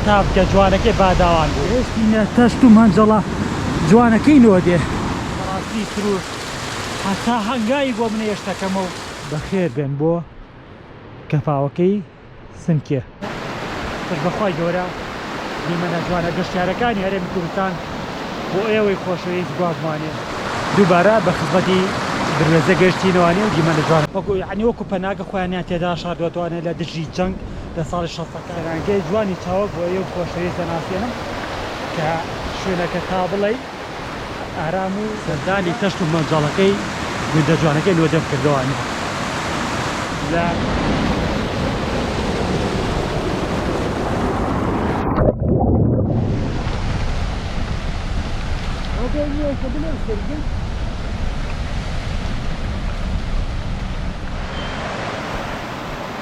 تابکە جوانەکەی باداوان بوو. ئێسقینە تەشت و مەنجەڵە جوانەکەی نۆدێ. بەڕاستی سرووش هەتا هەنگاوی بۆ منێ شتەکەمە و. بەخێر بێن بۆ کەفاوەکەی سنکێ. پشت بە خوای گەورە دیمەنە جوانە گەشتیارەکانی هەرێمی کوردستان بۆ ئێوەی خۆشەویست گواستمانێ. دووبارە بە خزمەتی دروێزە گەشتینەوە نێو دیمەنە جوانەکان. وەکو یەعنی وەکو پەناگە خۆیانیان تێدا شاردووەتەوە یەعنی لە دژی جەنگ. لە ساڵی شەستەکان. پێمانگەی جوانی چاوگ بۆ ئێو خۆشەویست دەناسێنم کە شوێنەکە تا بڵێی ئارام و. سەردانی کەشت و مەنجەڵەکەی گوندە جوانەکەی نۆدێم کردووە. لە. ڕۆبۆی نییە کە بڵێم کردم.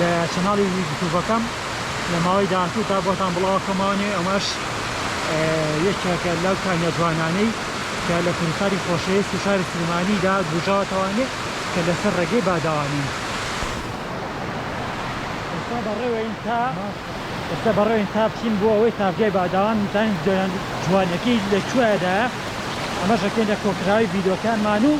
لە چەناڵی یوتوبەکەم لە ماوەی داهاتوودا بۆتان بڵاوکەمانێ ئەمەش یەکێکە لەو کانیە جوانانەی کە لە کوردستانی خۆشەویست و شاری سلێمانیدا گوژاوەتەوانێ کە لەسەر ڕێگەی باداوانین ئێستا بەڕێوەین تا ئێستا بەڕێوەین تا بچین بۆ ئەوەی تاڤگەی باداوان بزانین جوانیەکەی لە کوێدایە ئەمەش ئەکەینە کۆکراوی ڤیدۆکانمان و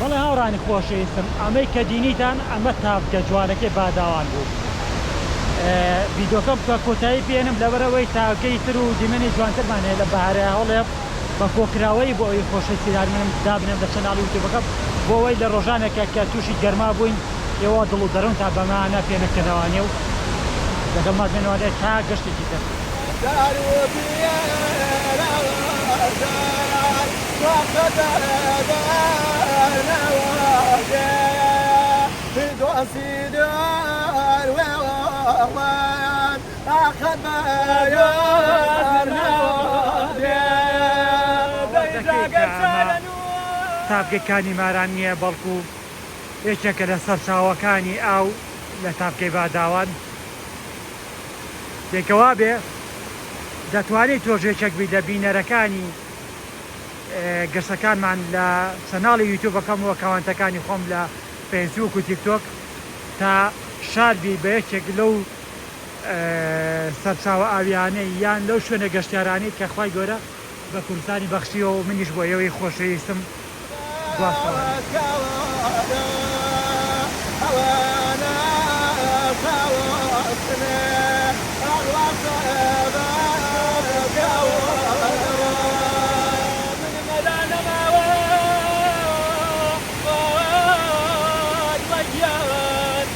بەڵێ هاوڕانی خۆشەویستم ئەمەی کە دینیتان ئەمە تاڤگە جوانەکەی باداوان بوو ڤیدۆکەم بکە کۆتایی پێنم لەبەرئەوەی تاڤگەی تر و دیمەنی جوانترمان هەیە لە بەهارەهەڵێم. بە کۆکراوەیی بۆ ئەوەی خۆشی سیرارمنم دابنێم لە چەناڵی یوتوبەکەم بۆ ئەوەی لە ڕۆژانێکە کە تووشی گەرما بووین ئێوە دڵ و دەروونتان بە مانا پێ نەکەنەوانێ و لەگەڵمان بێنەوانێ تا گەشتێکی تر. تاڤگەی کانی ماران نییە، بەڵکو یەکێکە لە سەرچاوەکانی ئاو لە تاڤگەی باداوان. جێی کە وابێ، دەتوانیت تۆش یەکێک بیت لە بینەرەکانی گەشتەکانمان لە چەناڵی یوتیوبەکەم و ئەکاونتەکانی خۆم لە فەیسبووک و تیکتۆک تا شاد بیت بە یەکێک لەو سەرچاوە ئاوییانەی یان لەو شوێنە گەشتیارانەی کە خوای گەورە بە کوردستانی بەخشیوە و منیش بۆ ئێوەی خۆشەویستم گواستنەوە.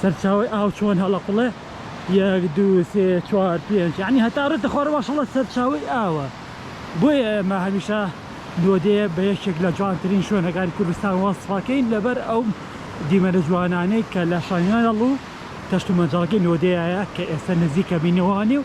سەرچاوەی ئاو چۆن هەڵەقوڵێ یەک دوو سێ چوار پێنج یەعنی هەتا ڕێتە خوارە ماشەڵڵا سەرچاوەی ئاوە بۆیە ئێمە هەمیشە نۆدەیە بە یەکێک لە جوانترین شوێنەکانی کوردستان وەسفەکەین لەبەر ئەو دیمەنە جوانانەی کە لە شانیاڵ و تەشت و مەجاڵەکەی نۆدەیایە کە ئێستا نزیکە بینەوانێ و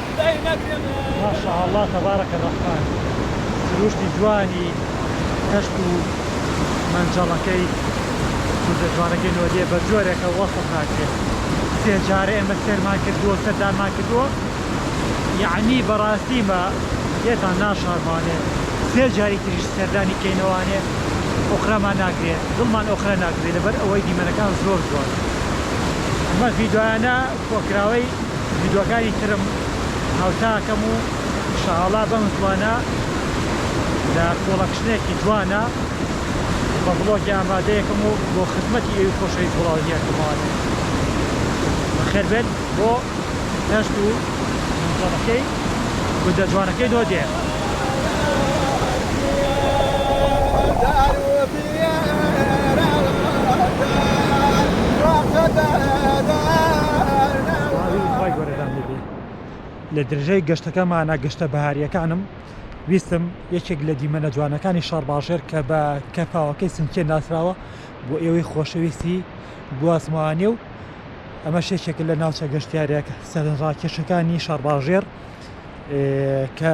ماشاءاللە تبارک الرحمن سروشتی جوانی کەشت و مەنجەڵەکەی کوردە جوانەکەی نۆدیە بە جۆرێکە وەسف ناکرێت سێ جارە ئێمە سێرمان کردووە سەردانمان کردووە یعنی بەڕاستیمە لێتان ناشارمانێ سێ جاری تریش سەردانی کەینەوانێ ئۆخرامان ناگرێت دڵمان ئۆخرە ناکرێت لەبەر ئەوەی دیمەنەکان زۆر جوان ئەمە ڤیدۆیانە کۆکراوەی ڤیدۆکانی ترم هاوتا ئەکەم و شەهاڵا بەم زوانە لە کۆڵەکشنێکی جوانە بە ڤڵۆگی ئامادەیەکم و بۆ خزمەتی ئێوی خۆشەویست بڵاوی ئەکەمەوە بەخێر بێت بۆ دەشت و جەڵەکەی گوندە جوانەکەی نۆدێ. لە درژای گەشتەکەمانە گەشتە بەهارییەکانم ویستم یەکێک لە دیمەنە جوانەکانی شارباژێر کە بە کەفاوەکەی سنچێن ناسراوە بۆ ئێوەی خۆشەویستی گوازمانێ و ئەمە شێشێک لە ناوچە گەشتیارێک سەرنجڕاکێشەکانی شارباژێر کە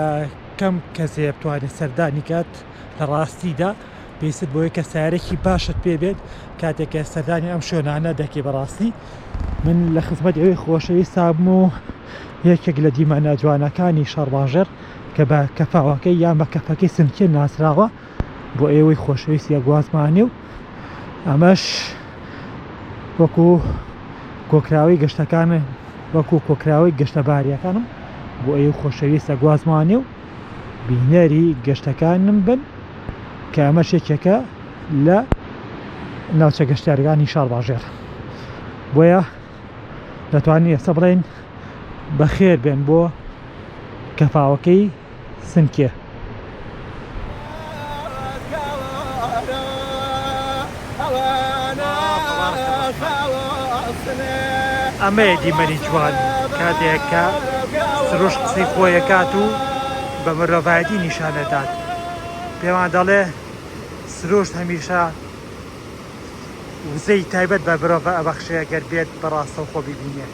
کەم کەسێ بتوانێت سەردانی کات لە ڕاستیدا پێویستت بۆی کەسایەرێکی باشت پێ بێت کاتێک کە سەردانی ئەم شوێنانە دەکەی بەڕاستی من لە خزمەت ئەوی خۆشەویستام و یەکێک لە دیمەنە جوانەکانی شەڕباژێر کە بە کەفاوەکەی یان بە کەفەکەی سنکێ ناسراوە بۆ ئێوەی خۆشەویستی گوازمانی و ئەمەش وەکو کۆکراوی گەشتەکان وەکو کۆکراوی گەشتەباریەکانم بۆ ئەو خۆشەویستە گوازمانی و بینەری گەشتەکانم بن کە ئەمەش یەکێکە لە ناوچە گەشتیارەکانی شارباژێر بۆیە دەتوانین ئێستا بڵێن بەخێر بێن بۆ کەفاوەکەی سنکێ. ئەمەیە دیمەنی جوان کاتێک کە سروشت قسەی خۆیەکات و بە مرۆڤایەتی نیشانەدات پێمان دەڵێ سروشت هەمیشە وزەی تایبەت بە برۆڤە ئەبەخشەیە گەر بێت بەڕاستەو خۆ ببینێت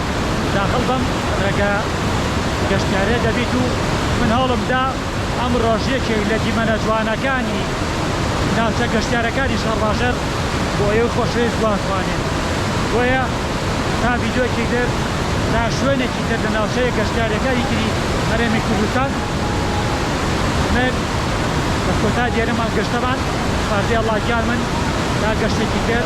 داخل بم ڕێگە گەشتیارێ دەبیت و من هەوڵم دا ئەم ڕۆژ یەکێک لە دیمەنە جوانەکانی ناوچە گەشتیارەکانی شەڕباژەر بۆ ئێوە خۆشەویست جوان خوانێ بۆیە تا ڤیدیۆکی در تا شوێنێکی تر لە ناوچەیە گەشتیارەکانی تری هەرێمی کوردستان من بە کۆتا دێنەمان گەشتەمان سپاردەی ئەڵڵا گیان من تا گەشتێکی تر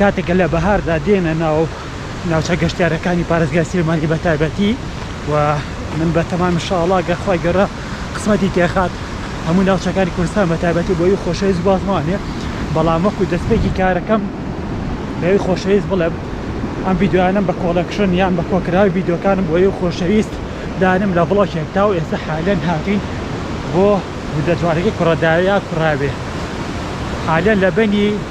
کاتێک کە لە بەهاردا دێنە ناو ناوچە گەشتیارەکانی پارێزگای سلێمانی بە تایبەتی و من بە تەمامی شاڵا گەر خوای گەڕە قسمەتی تێخات هەموو ناوچەکانی کوردستان بە تایبەتی بۆی خۆشەویست بازمانێ بەڵام وەکو دەستپێکی کارەکەم بەوی خۆشەویست بڵێم ئەم ڤیددیویانم بە کۆڵەکشن یان بە کۆکراوی ڤیددیوکانم بۆ ئەو خۆشەویست دانم لە بڵۆکێک تا و ئێستا حالەن هاتوین بۆ گوندە جوانەکەی کوڕەداویا کوڕاوێ حالەن لە بەنی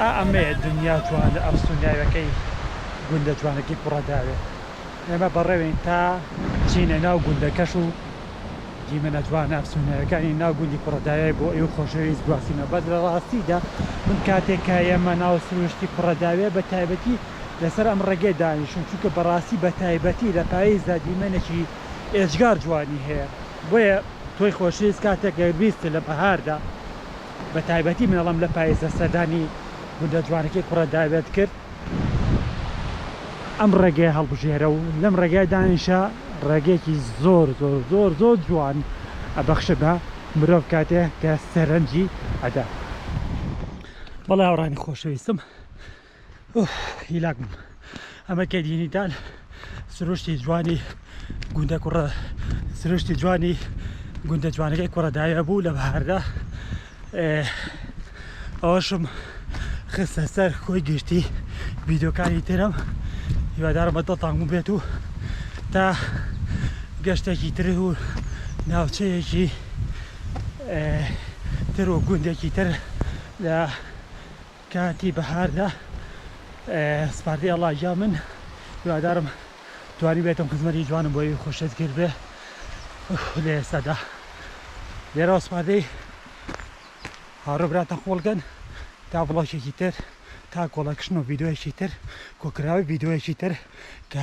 ئا ئەمەیە دنیا جوانە ئەم سونناویەکەی گوندە جوانەکەی کوڕە داوێ ئێمە بەڕێوین تا چینە ناو گوندەکەش و دیمەنە جوانە ئەم سونناویەکانی ناو گوندی کوڕە داوێ بۆ ئێوە خۆشەویست گواستینە بەس لە ڕاستیدا من کاتێک کە ئێمە ناو سروشتی کوڕە داوێ بە تایبەتی لەسەر ئەم ڕێگەی دانیشتوم چونکە بەڕاستی بە تایبەتی لە پاییزدا دیمەنێکی ئێجگار جوانی هەیە بۆیە تۆی خۆشەویست کاتێک گەر بیست لە بەهاردا بە تایبەتی من ئەڵێم لە پایزدا سەردانی گوندە جوانەکەی کوڕە داوێت کرد ئەم ڕێگەیە هەڵبژێرە و لەم ڕێگای دانیشە ڕێگەیەکی زۆر زۆر زۆر زۆر جوان ئەبەخشە بە مرۆڤ کاتێک کە سەرنجی ئەدا بەڵێ هاوڕانی خۆشەویستم ئۆف هیلاک بووم ئەمە کێدینیتال سروشتی جوانی گوندە کوڕە سروشتی جوانی گوندە جوانەکەی کوڕە داوێ بوو لە بەهاردا ئەوەشم خستە سەر خۆی گشتی ڤیددیوکانی ترم هیوادارم بە دڵتان بوو بێت و تا گەشتێکی تر و ناوچەیەکی تر و گوندێکی تر لە کاتی بەهاردا سپاردی ئەڵا گیان من هیوادارم توانی بێتم خزمەتی جوانم بۆی خۆشت کرد بێ لە ئێستادا لێرەوە سپاردەی هاڕۆ براتە خۆڵگەن تا بڵۆکێکی تر تا کۆڵەکشن و ڤیددیوەکی تر کۆکراوی ڤیددیوەکی تر کە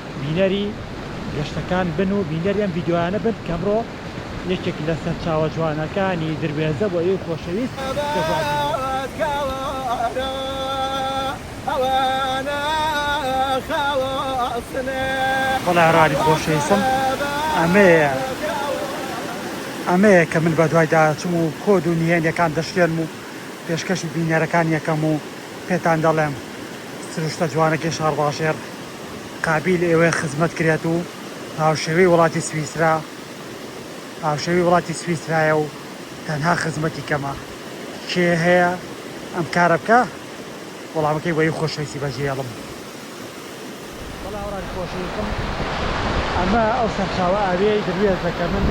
بینەری گەشتەکان بن و بینەری ئەم ڤیدیۆیانە بن کە ئەمڕۆ یەکێک لە سەرچاوە جوانەکانی دروێزە بۆ ئێوەی خۆشەویست دەگوازینەوە. وەڵا هەراری خۆشەویستم ئەمەیە ئەمەیە کە من بەدوایدا ئەچم و کۆد و نهێنیەکان دەشکێنم و پێشکەشی بینەرەکانی ئەکەم و پێتان دەڵێم سروشتە جوانەکەی شاڕباژێڕ. قابیل ئێوەیە خزمەت کرێت و هاوشێوەی وڵاتی سویسرا هاوشێوەی وڵاتی سویسرایە و تەنها خزمەتی کەمە کێ هەیە ئەم کارە بکە وەڵامەکەی بۆی خۆشەویستی بەجێڵم. وەڵا ئەوڕان خۆشەویستم ئەمە ئەو سەرچاوە ئاویەی دروێزە کە من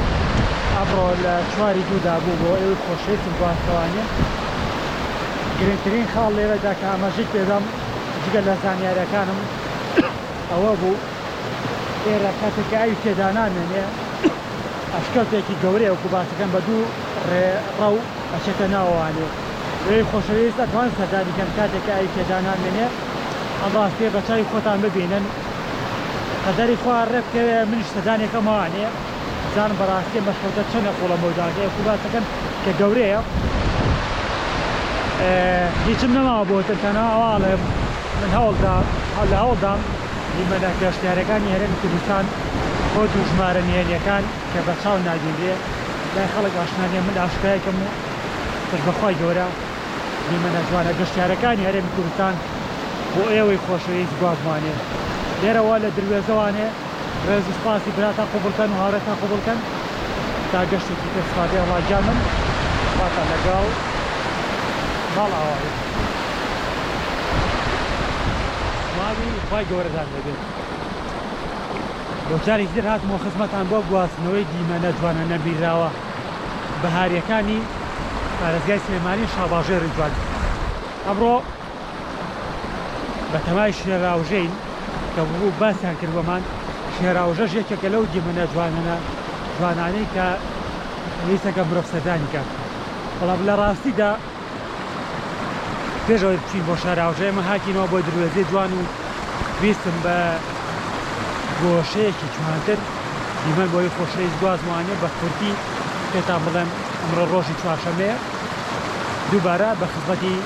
ئەمڕۆ لە چواری دوو دابوو بۆ ئێوەی خۆشەویستم گواستەوانیم گرنگترین خاڵ لێرەدا کە ئاماژەی پێدەم جگە لە زانیاریەکانم ئەوە بوو ئێرە کاتێک کە ئاوی تێدا نامێنێ ئەشکەوتێکی گەورەیە وەکو باسەکەم بە دوو ڕێ ڕەو ئەچێتە ناوەوانێ ئێوەی خۆشەویست ئەتوان سەردانی کەن کاتێک کە ئاوی تێدا نامێنێ ئەم ڕاستیە بە چاوی خۆتان ببینن قەدەری خوا ڕێ بکەوێ منیش سەردانێکەمەوانێ بزانم بەڕاستیە مەشروتە چەنە قوڵە مۆداکەی ئەکو باسەکەن کە گەورەیە هیچم نەماوە بۆتن تەنها ئەوە ئەڵێم من هەوڵدا لە هەوڵدام دیمەنە گەشتیارەکانی هەرێمی کوردستان بۆ دوو ژمارە نهێنیەکان کە بە چاو نابینرێ لای خەڵک ئاشنانیە من ئاشکرایکەم و پشت بەخوای گەورە دیمەنە جوانە گەشتیارەکانی هەرێمی کوردستان بۆ ئێوەی خۆشەویست گوازمانێ لێرەوە لە دروێزەوانێ ڕێز و سپاسی براتان قبوڵ کەن و هاوڕێتان قبوڵ کەن تا گەشتێکی تر سپاردەی ئەڵا گیانم خواتان لەگەڵ ماڵئاوا بێت سڵاوی خوای گەورەتان لێبێت بۆ جارێکی تر هاتمەوە خزمەتان بۆ گواستنەوەی دیمەنە جوانە نەبینراوە بەهارییەکانی پارێزگای سلێمانی شاباژێڕی جوان ئەمڕۆ بەتەمای شێراوژێین کە وەکو باسیان کرد بۆمان شێراوژەش یەکێکە لەو دیمەنە جوانەنە جوانانەی کە ویستەکە مرۆڤ سەردانی کات بەڵام لە ڕاستیدا پێشەوەی بچین بۆ شاراوژە ئێمە هاتینەوە بۆ دروێزەی جوان و ویستم بە گۆشەیەکی جوانتر دیمەن بۆی خۆشەویست گوازمانێ بە کورتی پێتان بڵێم ئەمڕۆ ڕۆژی چوارشەمەیە دووبارە بە خزمەتی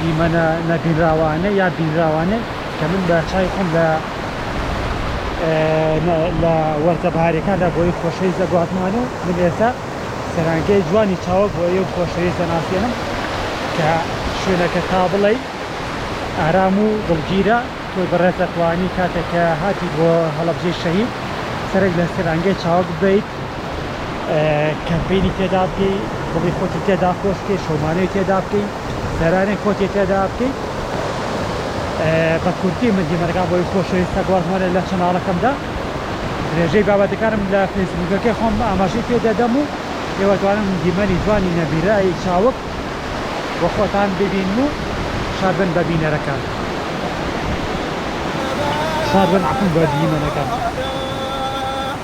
دیمەنە نەبینراوانە یا بینراوانەی کە من بە چاوی خۆم لە لە وەرزە بەهاریەکاندا بۆی خۆشەویست دەگوازمانە و من ئێستا سەرانگەی جوانی چاوە بۆ ئێو خۆشەویست دەناسێنم کە شوێنەکە تا بڵێی ئارام و دڵگیرە تۆی بەڕێز دەتوانی کاتێکە هاتی بۆ هەڵەبجەی شەهید سەرک لە سەرانگەی چاوە ببیت کەمپینی تێدا بکەی بڵی خۆتی تێدا پۆستکەی شەمانەی تێدا بکەی سەرانێک خۆتی تێدا بکەی بە کورتی من دیمەرگا بۆی خۆشەویستە گۆڵمۆنە لە چەناڵەکەمدا درێژەی بابەتەکانم لە فەیسبوکەکەی خۆم ئاماژەی پێ دەدەم و ئێوەتوانم دیمەنی جوانی نەبیرایی چاوک بۆ خۆتان ببین و شادبن بە بینەرەکان شادبن عفون بە دیمەنەکان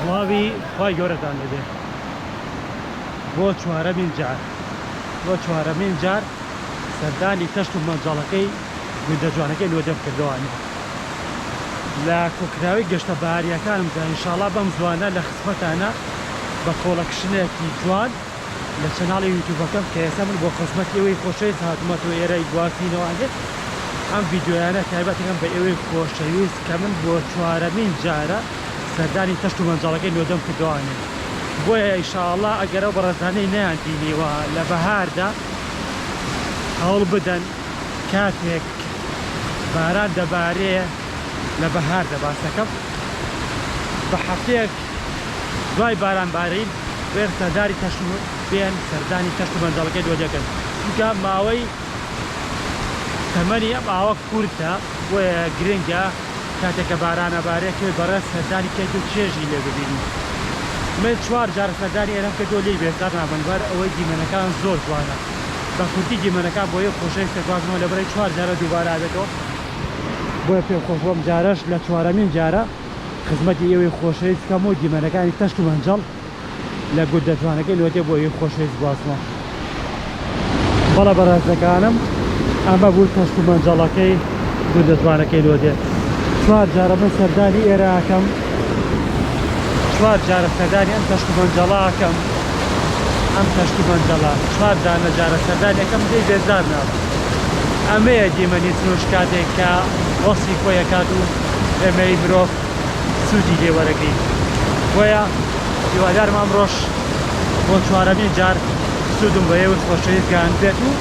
سڵاوی خوای گەورەتان لێ بێ بۆ چوارەمین جار بۆ چوارەمین جار سەردانی کەشت و مەنجەڵەکەی گوندە جوانەکەی لۆ دەم کردوانە لە کۆکراوی گەشتە بەهاریەکانمدا ئینشاڵا بەم زوانە لە خزمەتانە بە کۆڵە کشنێکی جوان لە چەناڵی یوتوبەکەم کە ئێستا من بۆ خزمەت ئێوەی خۆشەویست هاتمە تۆ ئێرای گواستینەوەێت ئەم یددیویانە تایبەتەکەم بە ئێوەی خۆشەویست کە من بۆ چوارەمین جارە سەردانی تەشت و مەنجاڵەکەی نۆدەم کردوانێت بۆیە ئیشاءله ئەگەرە بەڕێزانەی نیان دینیوە لە بەهاردا هەوڵ بدەن کاتێک باران دەبارێ لە بەهاردا باس دەکەم بە هەفتەیەک دوای باران بارین بێن سەرداری تەشت و بێن سەردانی تەشت و مەنجەڵەکەی دۆ دەکەن چونکە ماوەی تەمەنی ئەم ئاوە کورتە و گرنگە کاتێکە بارانە بارێ تۆی بەڕێز سەردانی کەیت و چێژی لێ ببینی من چوار جار سەردانی ئێرەم کردو لێی بێزار نابم لەبەر ئەوەی دیمەنەکان زۆر جوانە. بە کورتی دیمەنەکە بۆ یەک خۆشەویست کە گوازمەوە لە بەرەی چوار جارە دووبارە ئەبێتەوە بۆیە پێم خۆش بوو ئەم جارەش لە چوارەمین جارە خزمەتی ئێوەی خۆشەویست بکەم و دیمەنەکانی تەشت و مەنجەڵ لە گوندە جوانەکەی لۆتێ بۆ یەک خۆشەویست گوازمەوە بەڵێ بەڕێزەکانم ئەمە بوو تەشت و مەنجەڵەکەی گوندە جوانەکەی لۆدێ چوار جارە من سەردانی ئێرە ئەکەم. چوار جارە سەردانی ئەم کەشک و بەنجەڵە ئەکەم ئەم کەشک و بەنجەڵە چوار دانە جارە سەردانی ئەکەم دەی بێزار نابم ئەمەیە دیمەنی فرۆش کاتێک کە وەسی خۆی ئەکات و ئێمەی مرۆڤ سوودی لێ وەرەگرین بۆیە هیوادارم ئەمڕۆش بۆ چوارەمین جار سوودم بە ئێوەی خۆشەویست گەیاندبێت و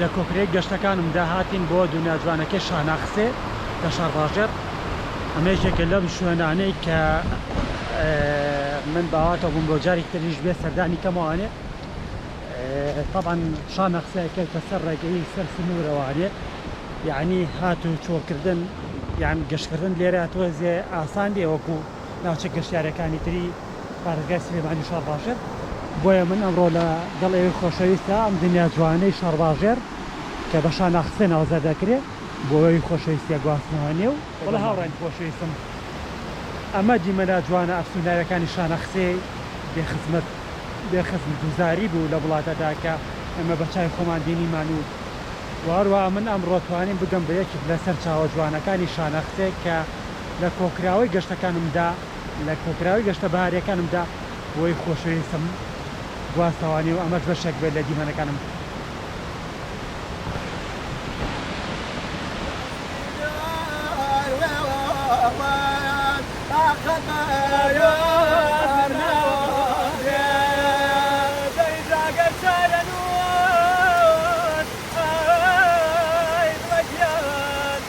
لە کۆکرەی گەشتەکانم دا هاتین بۆ دونیا جوانەکەی شاناخسێ لە شارباژێڕ ئەمەیش یەکێ لەم شوێنانەی کە من باواتەوە بووم بۆ جارێک تریش بێ سەردانی کەمەوانێ تەبان شانەخسێ کەوتە سەر ڕێگەی سەر سنوورەوانێ یعنی هات و چۆکردن یان گەشتکردن لێرە تۆزێ ئاسان دێ وەکو ناوچە گەشتارەکانی تری بارەگای سلێمانی شارباژێر بۆیە من ئەمڕۆ لە گەڵ ئێوەی خۆشەویستە ئەم دنیا جوانەی شارباژێر کە بە شاناخسێ ناوزە دەکرێ بۆوەوی خۆشەویستیە گواستمەوە نێو وەڵا هاوڕێن خۆشەویستم ئەمە دیمەنە جوانە ئەفسوناویەکانی شانەخسێ بێ خزمەت بێ خزم دوزاری بوو لە وڵاتەدا کە ئێمە بە چاوی خۆمان بینیمان و و هەروەها من ئەمڕۆ توانیم بگەم بە یەکێک لە سەرچاوە جوانەکانی شانەخسێ کە لە کۆکراوەی گەشتەکانمدا لە کۆکراوەی گەشتە بەهارییەکانمدا بۆی خۆشەویستم گواستەوانی و ئەمەش بەشێک بێت لە دیمەنەکانم.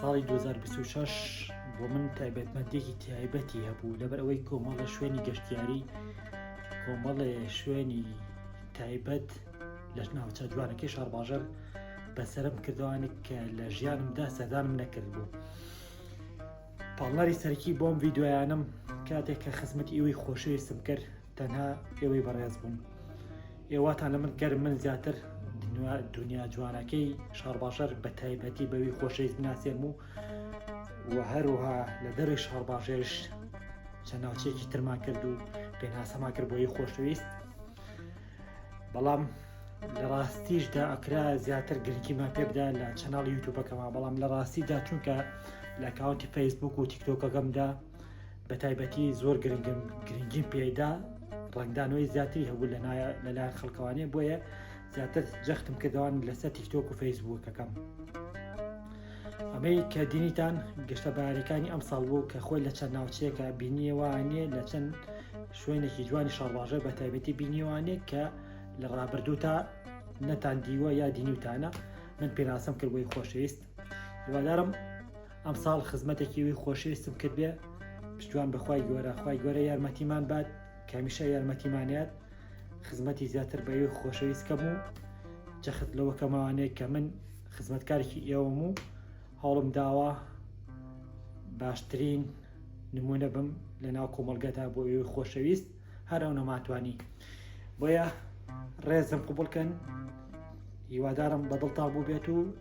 ساڵی 2026 بۆ من تایبەتمەندێکی تایبەتی هەبوو لەبەر ئەوەی کۆمەڵە شوێنی گەشتیاری کۆمەڵێ شوێنی تایبەت لە ناوچە جوانەکەی شارباژەر بەسرم کردوانێک کە لە ژیانمدا سەدانم نەکرد بوو پاڵنەری سەرکی بۆم ویددیویانم کاتێک کە خزمەت ئیوەی خۆشەویستم کرد تەنها ئێوەی بەڕێز بوون ئێواتان لە من گەر من زیاتر دنیا جوانەکەی شارباژەر بە تایبەتی بەوی خۆشەویست بناسێن و و هەروها لە دەروی شارباژێش چەند ناوچێکی ترمان کرد و پێناسەما کرد بۆی خۆشەویست بەڵام لە ڕاستیشدا ئەکرا زیاتر گرنگیمان پێ بدا لە چەناڵی یوتوبەکەمان بەڵام لە ڕاستیدا چونکە لە کاونتی فەیسبوک و تیکتۆکەکەمدا بە تایبەتی زۆر گرنگیم پێدا ڕنگدانەوەی زیاتری هەبوو لەلایەن خەڵکەوانێ بۆیە زیاتر جەختم کردوان لەسەر تیکتۆک و فەیسبووکەکەم ئەمەی کە دینیتان گەشتە بارەکانی ئەم ساڵ بوو کە خۆی لە چەند ناوچەیەکە بینیوانە لە چەند شوێنێکی جوانی شەڕواژە بە تایبەتی بینیوانێ کە لە ڕابردوو تا نەتان دیوە یا دینیوتانە من پێناسم کرد بۆی خۆشەویست هیوادارم ئەم ساڵ خزمەتێکی وی خۆشەویستم کرد بێ پشتوان بەخوای گۆرە خی گۆرە یارمەتیمان بات کامیشە یارمەتیمانات خزمەتی زیاتر بە یوی خۆشەویست کەم و جەخت لەوە کەماوانەیە کە من خزمەتکارێکی ئێوەم و هەوڵم داوە باشترین نمونە بم لە ناو کۆمەلگەدا بۆ ئێوی خۆشەویست هەر ئەو نەماتوانی بۆیە ڕێزم قوبڵکەن هیوادارم بەدڵتان بوو بێت و